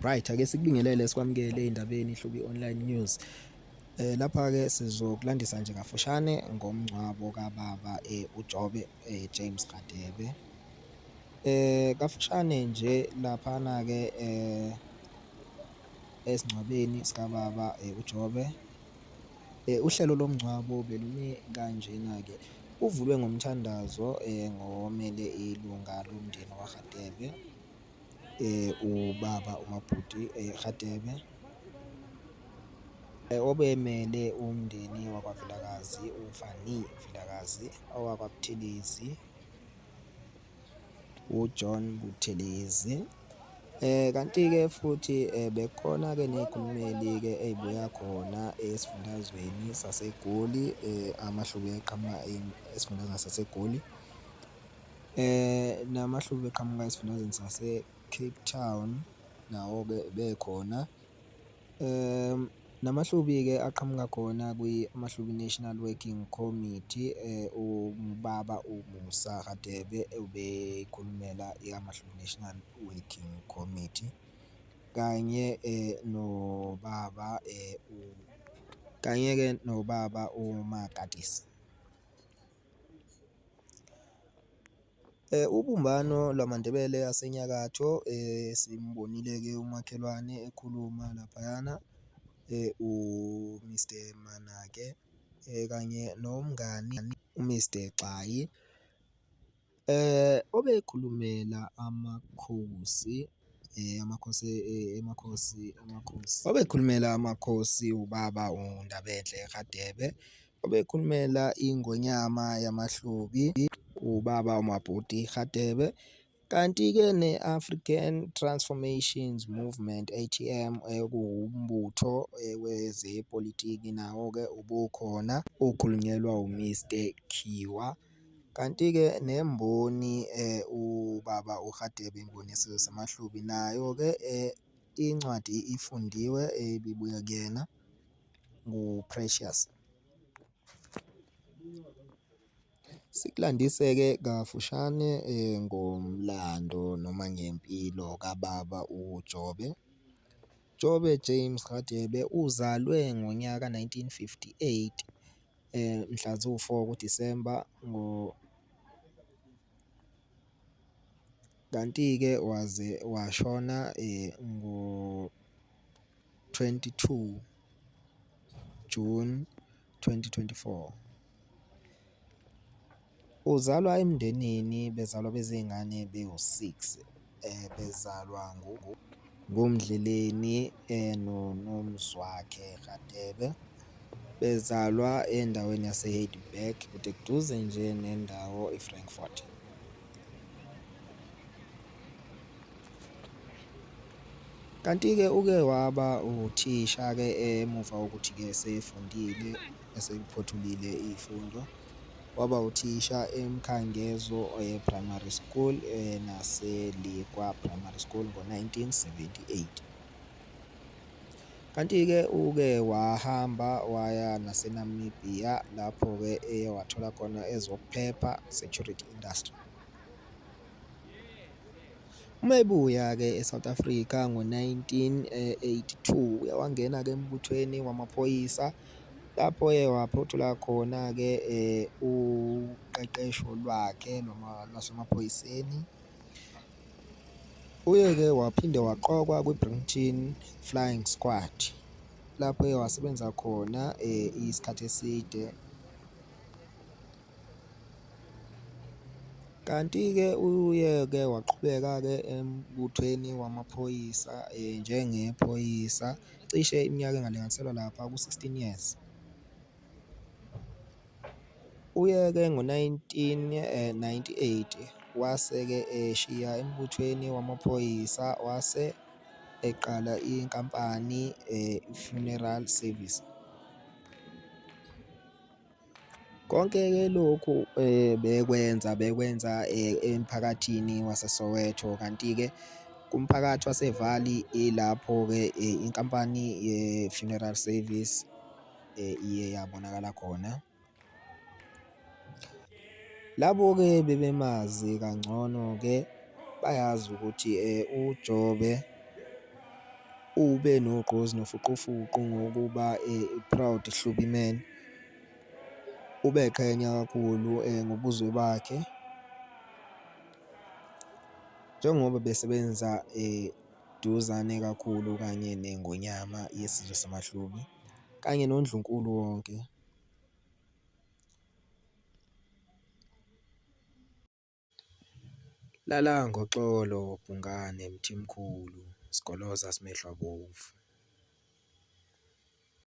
Right ake sikubingelele sikwamukele endabeni ihlubi online news. Eh lapha ke sizokulandisa nje kafushane ngomngcwabo kababa eh uJobe eh James Radebe. Eh kafushane nje lapha na ke eh esingcwabeni sikababa eh uJobe Uhlelo lomngcwabo belumi kanjena-ke. Uvulwe ngomthandazo ngowomele ilunga lomndeni waRadebe, ubaba uMabhuti Radebe, obemele umndeni wakwaVilakazi, uFani Vilakazi, owakwaButhelezi, uJohn Buthelezi. Eh kanti-ke futhi eh, bekhona-ke ney'khulumeli-ke ey'buya khona esifundazweni saseGoli eh, amahlubi eqhamuka esifundazweni saseGoli eh namahlubi eqhamuka esifundazweni sase-Cape Town nawo-ke bekhona Namahlubi-ke aqhamuka khona kwiMahlubi National Working Committee, uMbaba uMusa Radebe ubekhulumela iMahlubi National Working Committee kanye noBaba kanye-ke noBaba uMagadesi. Ubumbano lwamaNdebele asenyakatho simbonile-ke umakhelwane ekhuluma laphayana u-Mister Manake kanye nomngani u-Mister Xayi. Obekhulumela amakhosi amakhosi emakhosi amakhosi obekhulumela amakhosi ubaba uNdabenhle Radebe, obekhulumela iNgonyama yamaHlubi ubaba uMabhuti Radebe, kanti-ke ne-African Transformations Movement, ATM, okuwumbutho wezepolitiki nawo-ke ubukhona ukhulunyelwa uMr Khiwa. Kanti-ke nemboni ubaba uRadebe imboni yesizwe samaHlubi nayo-ke incwadi ifundiwe ebibuya kuyena nguPrecious. Sikulandise-ke kafushane ngomlando noma ngempilo kababa uJobe. Jobe James Radebe uzalwe ngonyaka nineteen fifty-eight. mhla ziwu-four kuDisemba kanti-ke waze washona ngo-twenty two Juni twenty twenty-four. Uzalwa emndenini bezalwa bezingane bewu-six bezalwa nguMdleleni noMzwakhe Radebe. Bezalwa endaweni yase-Heildburg kude kuduze nje nendawo i-Frankfort. Kanti-ke uke waba uthisha-ke emuva kokuthi-ke esefundile. eseyiphothulile iy'fundo waba uthisha eMkhangezo Primary School naseLikwa Primary School ngo-1978. Kanti-ke uke wahamba waya naseNamibia lapho-ke eye wathola khona ezokuphepha, security industry. Uma ebuya-ke eSouth Africa ngo-1982 uye wangena-ke embuthweni wamaphoyisa. Eh, Lapho eye waphothula khona-ke uqeqesho lwakhe noma lwasemaphoyiseni. Uye-ke waphinde waqokwa kwi-Brimton Flying Squad lapho eye wasebenza khona isikhathi eside. Kanti-ke uye-ke waqhubeka-ke embuthweni wamaphoyisa njengephoyisa Cishe iminyaka engalinganiselwa lapha ku-16 years. Uyeke ngo-1998 wase-ke eshiya embuthweni wamaphoyisa wase eqala inkampani i-Funeral Service. Konke-ke lokhu bekwenza bekwenza emphakathini waseSoweto kanti-ke kumphakathi waseValley ilapho-ke inkampani ye-funeral service iye yabonakala khona. Labo-ke bebemazi kangcono-ke bayazi ukuthi uJobe ube nogqozi nofuqufuqu ngokuba proud Hlubi Man. ubeqhenya kakhulu ngobuzwe bakhe njengoba besebenza eduzane kakhulu kanye neNgonyama yesizwe samaHlubi kanye noNdlunkulu wonke. Lala ngoxolo Bhungane Mthimkhulu sigoloza simehlo abomvu.